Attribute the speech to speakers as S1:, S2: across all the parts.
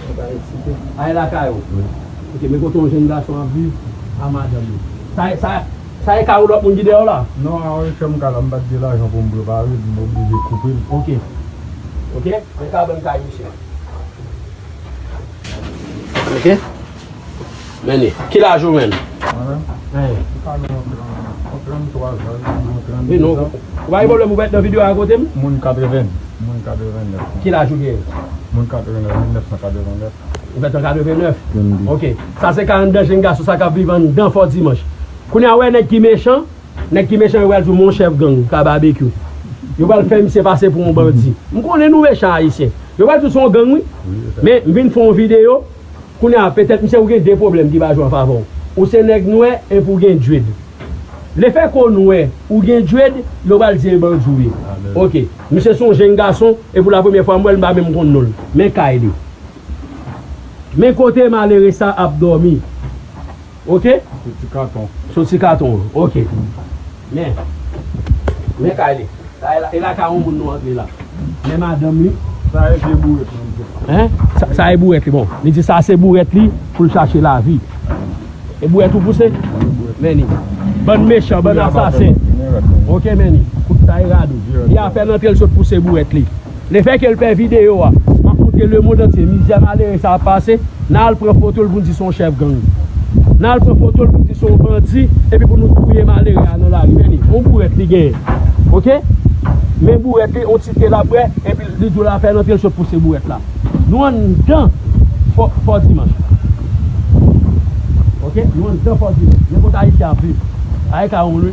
S1: Mwen pa eksite. Ay lakay ou vre. Ok men kote yon jenn gason ap viv a madanm li. Sa e sa sa e kay ou lòt moun ki dèyèw la? Non a wi kèm kay la
S2: m pat gen lajan poum prepare l m oblije koupe l. Ok ok men
S1: kabann kay misye. Ok. Meni. Ki laj ou menm? Mwen
S2: menm? Ou ka
S1: menm antre nan menm nan. Ou 33 zan, ou ka menm 32 zan. Meni. Ou pa gen pwoblèm pou w pa nan videyo a akote m? Moun 80. Moun 89 mwen. Ki laj
S2: ou
S1: genyen? Moun 89, 1989. Ou fèt an 89? 32. Ok. Sa se 42 jenn gason sa k ap viv anndan Fò Dimanch. Kounye a wè nèg ki mechan? Nèg ki mechan yo pral di w mon chèf gang, ka Babekyou. Yo pral fè misye pase pou yon bandi. M konnen nou mechan Ayisyen. Yo pral di w se yon gang wi. Men, m vin fè yon videyo. Kounya petèt misye ou gen 2 pwoblèm ki pa jwe anfavè w. Ou se nèg nwè epi ou gen dread. Le fè ke w nwè, ou gen dread, yo pral di e bandi w ye. Ok. Misye se yon jenn gason e pou la premyè fwa m wè l m pa menm konn non l. Men kay li. Men kote malere sa ap dòmi. Ok.
S2: Sou ti katon. Sou ti katon an.
S1: Ok. Men. Men kay li. Sa e la kay on moun nou antre la. Men madanm li. Sa e vye bouret
S2: li mete. Hein?
S1: Sa e bouret li bon. Li di sa se bouret li poul chache lavi. E bouret ou pouse? Men li. Bann mechan, bann asasen. Ok men li. Sa e rad ou. Li apen antre li sot pouse bouret li. Le fè ke l pè videyo a. M ap montre lemond antye mizè malere sa ap pase. N a al pran foto l pou n di se yon chèf gang. N a al pran foto l pou n di se yon bandi epi pou nou touye malere a nan lari. Men li, yon bourèt li genyen. Ok? Men bourèt li, yon ti te l ap bwè epi li di w lafè l antre l sot pouse bourèt la. Nou anndan Fò, Fò Dimanch. Ok? Nou anndan Fò Dimanch. Men kote Ayisyen ap viv. Bagay sa wonn wi.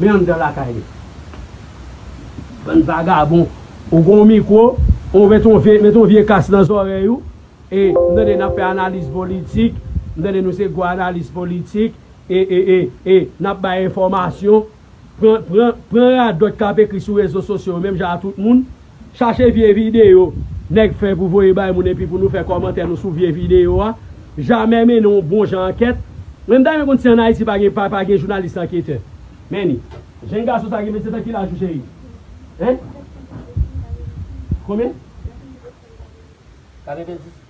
S1: Men anndan lakay nou. Bann vagabon. Ou gon mikwo, ou met on vye, met on vye kas nan zòrèy ou, e, m tande nap fè analiz politik, m tande nou se gwo analis politik, e, e, e, e, nap bay enfòmasyon, pran, pran, pran radòt kap ekri sou rezo sosyo yo menm jan a tout moun, Chache vye videyo nèg fè pou voye bay moun epi pou nou fè kòmantè nou sou vye videyo a jamè mennen yon bon jan ankèt mwen m ta renmen konn si an ayiti pa gen pa pa gen jounalis anketè menni jenn gason sa gen 27 an ki laj ou cheri hein konbyen? 90.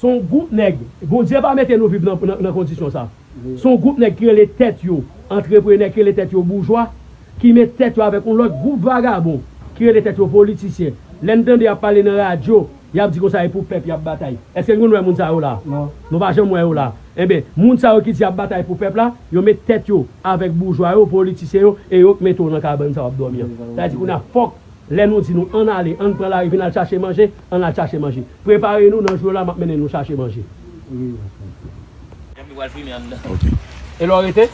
S1: Son
S3: group nèg,
S1: Bondye pa mete nou viv nan kondisyon sa. Son group nèg ki
S3: rele
S1: tèt yo antreprenè, ki rele tèt yo boujwa, ki met tèt yo avèk yon lòt group vagabon ki rele tèt yo politisyen. Lè n tande yap pale nan radyo, yap di konsa e pou pèp yap batay. Eske n konn wè moun sa yo la? Nou pa janm wè yo
S3: la.
S1: Enben, moun sa yo ki di yap batay pou pèp la, yo met tèt yo avèk boujwa yo, politisyen yo e yo k mete w nan kabann sa wap dòmi an. Sa vle di kounye a fòk Lè nou di nou ann ale, ann pran lari vin al chache manje, ann al chache manje. Prepare nou nan jou yo la map mennen nou chache manje.
S3: Epi pral fimen anndan.
S4: Ok. E lè w rete?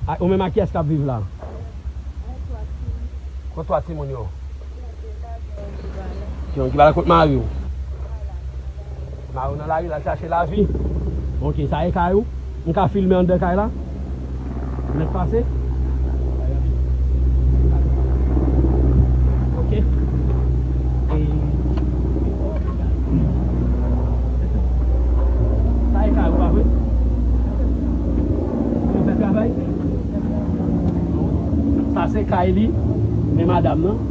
S1: Ak ou menm ak kiyès kap viv la? Ak 3 timoun. Kot 3 timoun yo? Gen yon ki pa la. Gen yon ki pa la kot mari w? Ki pa la. Mayo nan lari lal chache lavi. Ok sa e kay ou m ka filme andan kay la pou nèg pase ok e sa e kay ou pa vre pou yo fè travay sa se kay li men madam nan.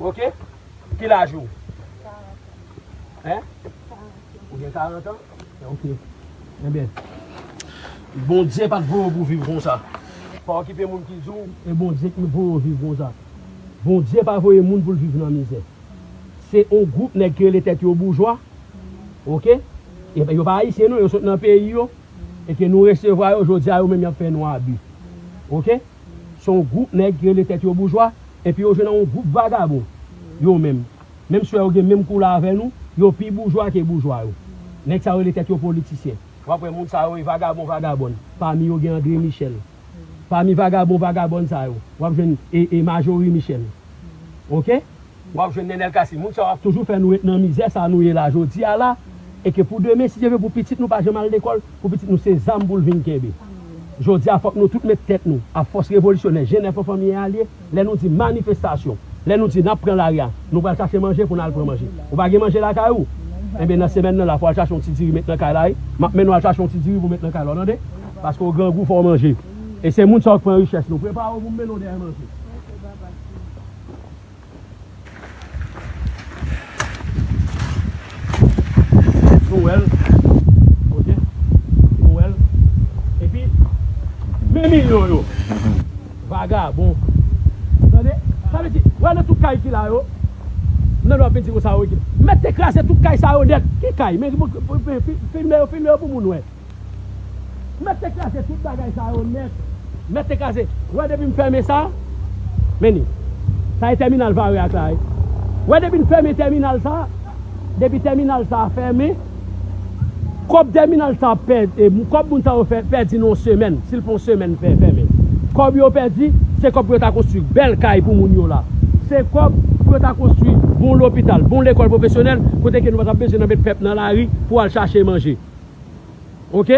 S1: Ok ki laj ou? 40 Hein? 40 Ou gen 40 ans? Ok Enben Bondye pat voye w pou viv konsa Pa okipe moun ki di w e Bondye ki voye w viv konsa Bondye pa voye moun pou l viv nan mizè Se yon gwoup nèg ki rele tèt yo boujwa Ok Enben yo pa Ayisyen non yo sot nan peyi yo e ke nou resevwa yo jodi a yo menm y ap fè nou abi Ok Se yon gwoup nèg ki rele tèt yo boujwa. Epi yo jwenn an yon gwoup vagabon, yo menm. Menm si wè yo gen menm koulè avè nou, yo pi boujwa ke boujwa yo. Nèg sa yo rele tèt yo politisyen. W ap wè moun sa yo e vagabon vagabòn. Pami yo gen André Michel. Pami vagabon vagabòn sa yo, w ap jwenn e, e Marjorie Michel. Ok? W ap jwenn Nenel Cassy. Moun sa yo ap toujou fè nou ret nan mizè sa nou ye la jodi a la. E ke pou demen, si Dye vle, pou pitit nou pa janm al lekòl. pou pitit nou se zam pou l vin kenbe. Jodi a fòk nou tout met tèt nou ak fòs revolisyonè Jen Nèf Anfan Miyè Alye, lè nou di manifestasyon, lè nou di n ap pran lari a, nou pral chache manje pou n al pran manje. Ou pa gen manje lakay ou? Enben nan semèn nan la pou w al chache yon ti diri met nan kay la wi. M ap mennen w al chache yon ti diri pou w met nan kay la w tande? Paske w grangou fò w manje. E se moun sa yo k pran richès nou. Prepare w pou m mennen w dèyè manje. Nou wèl ok nou wèl epi men milyon yo vagabon ou tande sa vle di wè nan tout kay ki la yo nan nou ap vin di konsa ok mèt te kraze tout kay sa yo nèt ki kay men filme yo filme yo pou moun wè. Mèt te kraze tout bagay sa yo nèt. Mèt te kraze. Wè depi m fèmen sa. Men li. Sa e tèminal Vare ak la wi. Wè depi n fèmen tèminal sa. Depi tèminal sa fèmen. Kòb tèminal sa pè. Kòb moun sa yo fè pèdi nan yon semèn. Si l fè yon semèn fè fèmen. Kòb yo pèdi. Se kòb pou yo ta konstwi bèl kay pou moun yo la. Se kòb pou yo ta konstwi bon lopital, bon lekòl pwofesyonèl kote ke nou pa t ap bezwen nan met pèp nan lari pou al chache manje. Ok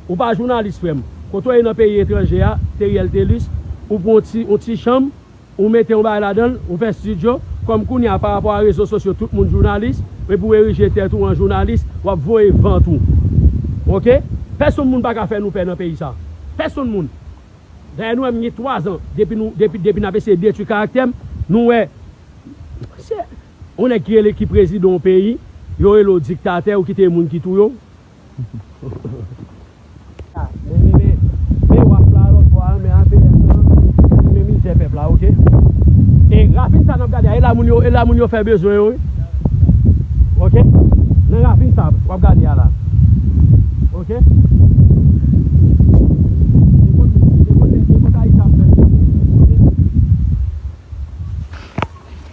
S1: ou pa jounalis frem. Kote w ye nan peyi etranje a Theriel Thelus ou pran yon ti chanm ou mete yon bagay ladan l ou fè studio kòm kounye a parapò a rezo sosyo tout moun jounalis epi w erije tèt ou an jounalis w ap voye vant ou ok pèsonn moun pa ka fè nou pè nan peyi sa pèsonn moun dayè nou wè m gen 3 zan depi nou depi depi n ap eseye detwi karaktè m nou wè. On nèg ki rele ki prezidan on peyi, yo rele w diktatè, ou kite e moun ki touye w. A, men men men, men waf la a lòt bò a, men APM nan, li men mizè pèp la ok. E ravin sa nap gade a, e la moun yo, e la moun yo fè bezwen yo wi. Ok, nan ravin sa wap gade a la. Ok. E kon, e kon nèg, e kon sa Isa ap fè l yo. Ok.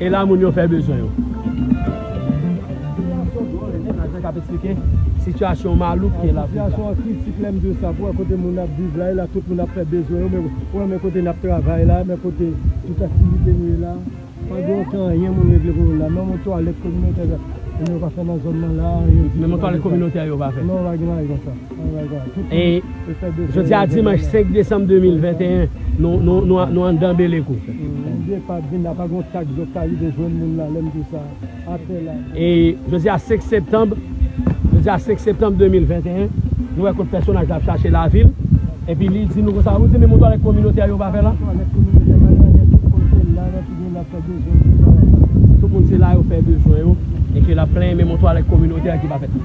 S1: E la moun yo fè bezwen yo. Sitiyasyon dwòl e menm ajan k ap esplike sitiyasyon malouk ki la. Sitiyasyon an kritik lè m
S2: di w sa. Pou wè kote moun ap viv la. E la tout moun ap fè bezwen yo. Men pou wè men kote n ap travay la. Men kote tout aktivite nou ye la. Pa gen oken anyen moun regle pou moun la. Menm yon twalèt kominotè moun yo pa fè nan zòn nan la. Menm yon twalèt kominotè
S1: yo pa fè. Non pa gen bagay konsa. Jodi a dimanch 5 desanm 2021 nou anndan belekou Jodi a 5 septanm 2021 nou wè kot pèsonaj la ap chache lavi l epi li di nou konsa ou di menm yon twalèt kominotè yo pa fè la tout moun se la yo fè bezwen yo e ke l ap plenyen menm yon twalèt kominotè ki pa fèt.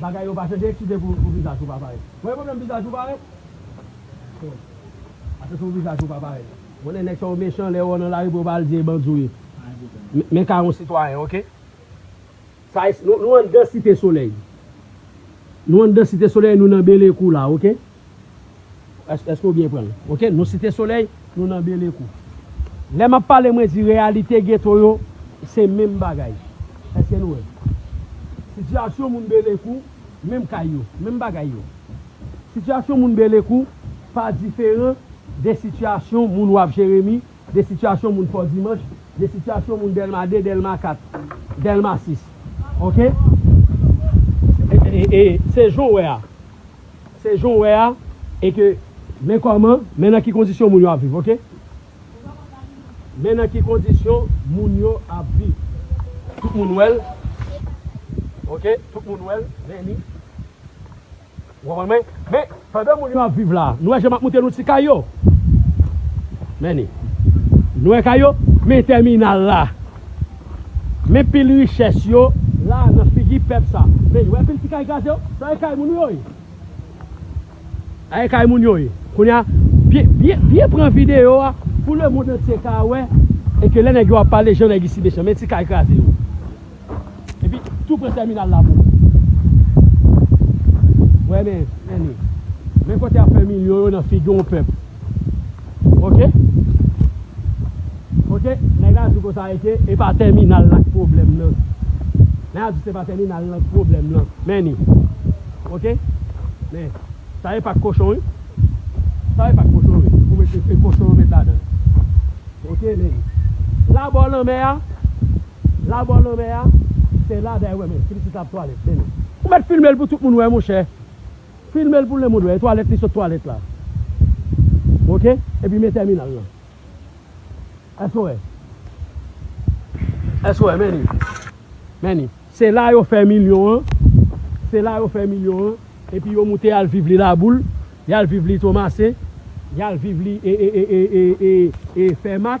S1: Bagay yo pase de eksite pou vizaj ou pa parèt. Mwen gen pwoblèm vizaj ou parèt. Bon. Ase sou vizaj ou pa parèt. M konnen nèg sa yo mechan lè yo wè w nan lari pou yo pa al di e bandi w ye. Pa gen pwoblèm. Men ka yon sitwayen ok. Sa es nou anndan site solèy. Nou anndan site solèy nou nan belekou la ok. Eske ou byen pranl ok nou site soley nou nan belekou lè map pale mwen di reyalite geto yo se menm bagay eske nou wèl sitiyasyon moun belekou menm kay yo menm bagay yo sitiyasyon moun belekou pa diferan de sitiyasyon moun waf jeremi de sitiyasyon moun fò dimanch de sitiyasyon moun delma 2 delma 4 delma 6 ok e e e se jan ou wè a Se jan w wè a e ke men kòman, men nan ki kondisyon moun yo ap viv ok. Men nan ki kondisyon moun yo ap viv. Tout moun wè l ok, tout moun wè l, men ni. Ou konprann mwen? Men, pandan moun yo ap viv la a, nou wè jan m ap moute nou ti kay yo? Men ni. Nou wè kay yo? Men tèminal la. Men pil richès yo la nan figi pèp sa. Men, wè pil ti kay kraze yo? Sa e kay moun yo ye. Sa e kay moun yo ye. Kounye a, byen pran videyo a pou lemond antye ka wè e ke lè nèg yo ap pale jan nèg isi mechan. Men ti kay kraze yo. Epi tou pre tèminal la bro. Wè men Ene. Men kote yap fè milyon yo nan figi yon pèp. Ok. Ok nèg la di konsa eke e pa tèminal la k pwoblèm nan. Nèg la di se pa tèminal lan k pwoblèm lan. Men ni. Ok. Men. Sa e pak kochon wi. Sa e pak kochon wi. Ou mete se kochon ou met ladan. Ok men ni. Labò lanmè a. La bonne anmè a se la day wè men ti pitit la ap twalet men nou. Ou met filmel pou tout moun wè monchè filmel pou lemonn wè e twalet li sot twalet la ok epi men tèminal lan èske ou wè èske ou wè men li men li se la yo fè milyon an se la yo fè milyon an epi yo moute yal viv li laboul yal viv li tomase yal viv li e e e e e e fèmak.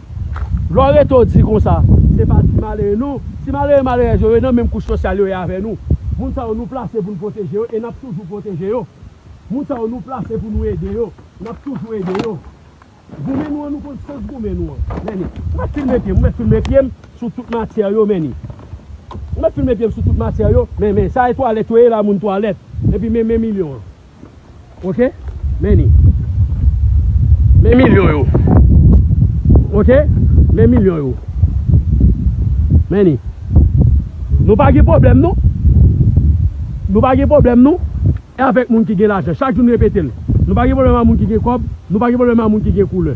S1: Lè w rete w di konsa, se pa ti malere non. Ti malere malerèz yo, yo nan menm kouch sosyal yo ye avè nou. Moun sa yo nou plase pou n pwoteje yo e n ap toujou pwoteje yo. Moun sa yo nou plase pou nou ede yo, n ap toujou ede yo. Goumen nou an, nou konn sans goumen nou an. Meni, mwen mèt filme pye m, mwen mèt filme pye m sou tout matyè yo, meni. Mwen mèt filme pye m sou tout matyè yo, men, men, sa e twalèt yo ye la, moun twalèt. Epi men, men milyon an. Ok men li Men milyon yo Ok men milyon yo Men li Nou pa gen pwoblèm non Nou pa gen pwoblèm non Avèk moun ki gen lajan Chak jou m repete l Nou pa gen pwoblèm ak moun ki gen kòb Nou pa gen pwoblèm ak moun ki gen koulè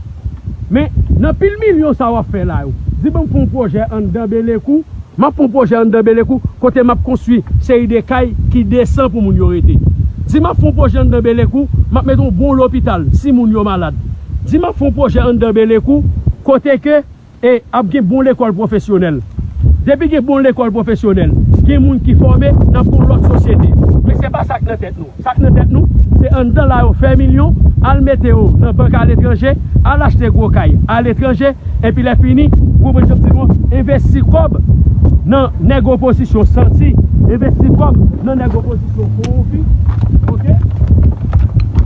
S1: Men nan pil milyon sa w ap fè la yo Di banm fè yon pwojè anndan belekou M ap fon pwojè anndan Belekou kote m ap konstwi seri de kay ki desan pou moun yo rete. Di m ap fon pwojè anndan Belekou, m ap mete yon bon lopital si moun yo malad. Di m ap fon pwojè anndan Belekou kote ke e ap gen bon lekòl pwofesyonèl. Depi gen bon lekòl pwofesyonèl, gen moun ki fòme, n ap gen yon lòt sosyete. Men se pa sa k nan tèt nou. Sak nan tèt nou, se anndan la yo fè milyon, al mete yo nan bank aletranje, al achte gwo kay aletranje, epi lè fini, ou konprann sa m di nou an, envesti kòb nan nèg opozisyon santi, envesti kòb nan nèg opozisyon kowonpi, ok,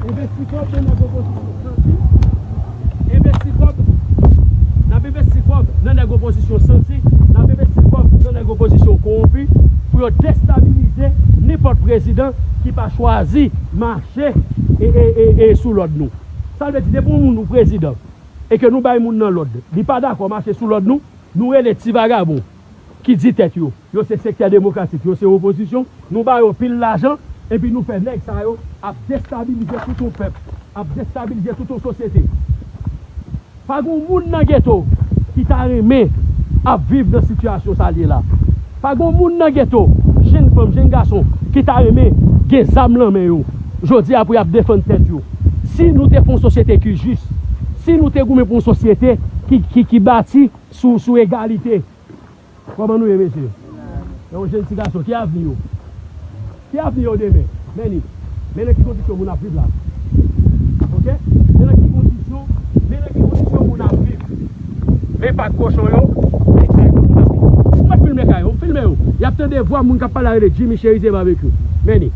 S1: envesti kòb nan nèg opozisyon santi. envesti kòb, n ap envesti kòb nan nèg opozisyon santi, n ap envesti kòb nan nèg opozisyon kowonpi pou yo destabilize nenpòt prezidan ki pa chwazi mache sou lòd nou. Sa vle di depi yon moun ou prezidan e ke nou bay moun nan lòd li pa dakò mache sou lòd nou, nou rele ti vagabon ki di tèt yo, yo se sektè demokratik, yo se opozisyon, nou ba yo pil lajan, epi nou fè nèg sa yo ap destabilize tout yon pèp, ap destabilize tout yon sosyete. Pa gon moun nan geto ki ta renmen ap viv nan sitiyasyon sa l ye la. Pa gon moun nan geto, jenn fanm, jenn gason, ki ta renmen gen zam lan men yo jodi a pou y ap defann tèt yo. Si nou te pou yon sosyete ki jis, si nou te goumen pou yon sosyete ki bati. Sou sou egalite. Koman nou ye mesye? Gen yon jenn ti gason ki avni yo? Ki avni yo demen? Meni Men nan ki kondisyon moun ap viv la Ok Men nan ki kondisyon Men nan ki kondisyon moun ap viv Men pat kochon yo Men kay kote moun ap viv yo Ou met filme kay yo? Filme yo Y ap tande vwa moun k ap pale la rele Jimmy Cherizier Barbecue Meni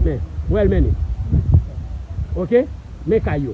S1: Men Wè l Meni Ok Men kay yo.